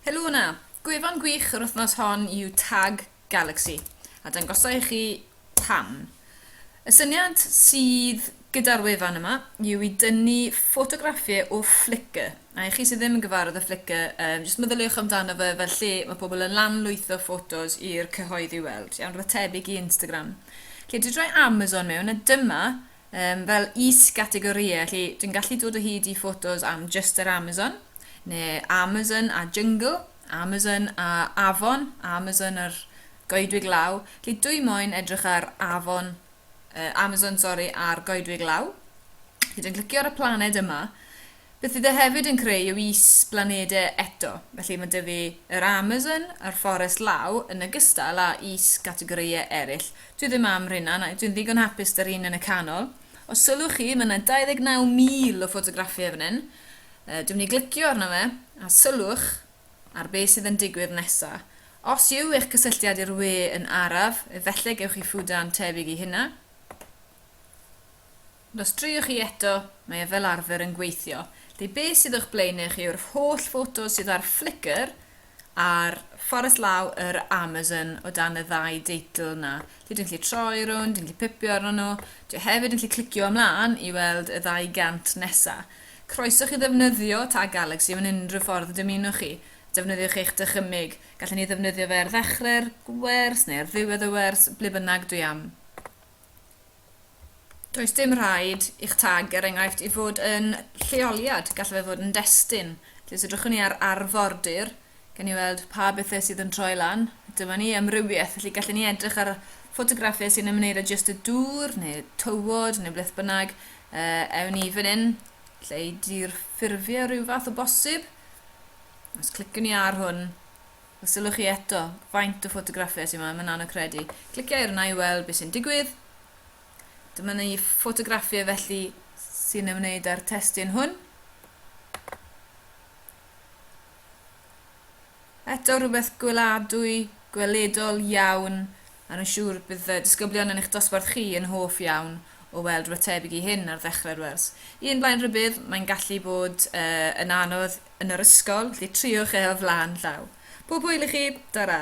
Helo 'na! Gwefan gwych yr wythnos hon yw Tag Galaxy, a dangosa i chi pam. Y syniad sydd gyda'r wefan yma yw i dynnu ffotograffiau o Flickr, a i chi sydd ddim yn gyfarwydd â Flickr, um, jyst meddyliwch amdano fe fel lle mae pobl yn lanlwytho ffotos i'r cyhoedd i weld, iawn, rhywbeth tebyg i Instagram. Lle dwi droi Amazon mewn, a dyma Yym, fel is-gategorïau, felly dwi'n gallu dod o hyd i ffotos am Just yr Amazon, neu Amazon a Jungle, Amazon a Afon, Amazon a'r Goedwig Law. Felly dwi moyn edrych ar Afon, uh, Amazon, sori, a'r Goedwig Law. Felly dwi'n clicio ar y planed yma, Beth fydd e hefyd yn creu yw is-blanedau eto, felly mae 'da fi yr Amazon a'r Fforest Law yn ogystal â is-gategorïau eraill. Dwi ddim am rheina, na, dwi'n ddigon hapus 'da'r un yn y canol. Os sylwch chi, mae 'na 29,000 o ffotograffiau fan hyn. Yy, dwi'n mynd i glicio arno fe, a sylwch ar be sydd yn digwydd nesa. Os yw eich cysylltiad i'r we yn araf, efallai gewch chi ffwdan tebyg i hynna. Ond os driwch chi eto, mae e fel arfer yn gweithio. Felly be sydd o'ch blaenau chi yw'r holl ffotos sydd ar Flickr ar Fforest Law yr Amazon o dan y ddau deitl yna. Felly dwi'n gallu troi rownd, dwi'n gallu pipio arno nhw. Dwi hefyd yn gallu clicio ymlaen i weld y ddau gant nesa. Croeso chi ddefnyddio Tag Galaxy mewn unrhyw ffordd y dymunwch chi. Defnyddiwch eich dychymyg. Gallen ni ddefnyddio fe ar ddechrau'r wers neu ar ddiwedd y wers, ble bynnag dwi am. Does dim rhaid i'ch tag, er enghraifft, i fod yn lleoliad, gallai fe fod yn destun. Felly os edrychwn ni ar arfordir, gen ni weld pa bethau sydd yn troi lan. Dyma ni amrywiaeth, felly gallen ni edrych ar ffotograffau sy'n ymwneud â jyst y dŵr neu tywod neu beth bynnag. Uh, ewn ni fan hyn, lle i dirffurfio rhyw fath o bosib. Os clicwn ni ar hwn, Os sylwch chi eto, faint o ffotograffiau sydd yma, mae'n anodd credu. Clicia ar yna i weld beth sy'n digwydd. Dyma ni ffotograffiau felly sy'n ymwneud â'r testyn hwn. Eto rhywbeth gweladwy, gweledol iawn, a rwy'n siŵr bydd y disgyblion yn eich dosbarth chi yn hoff iawn o weld rhywbeth tebyg i hyn ar ddechrau'r wers. Un blaen rhybudd, mae'n gallu bod uh, yn anodd yn yr ysgol, felly triwch e o flaen llaw. Pob hwyl i chi! Tara!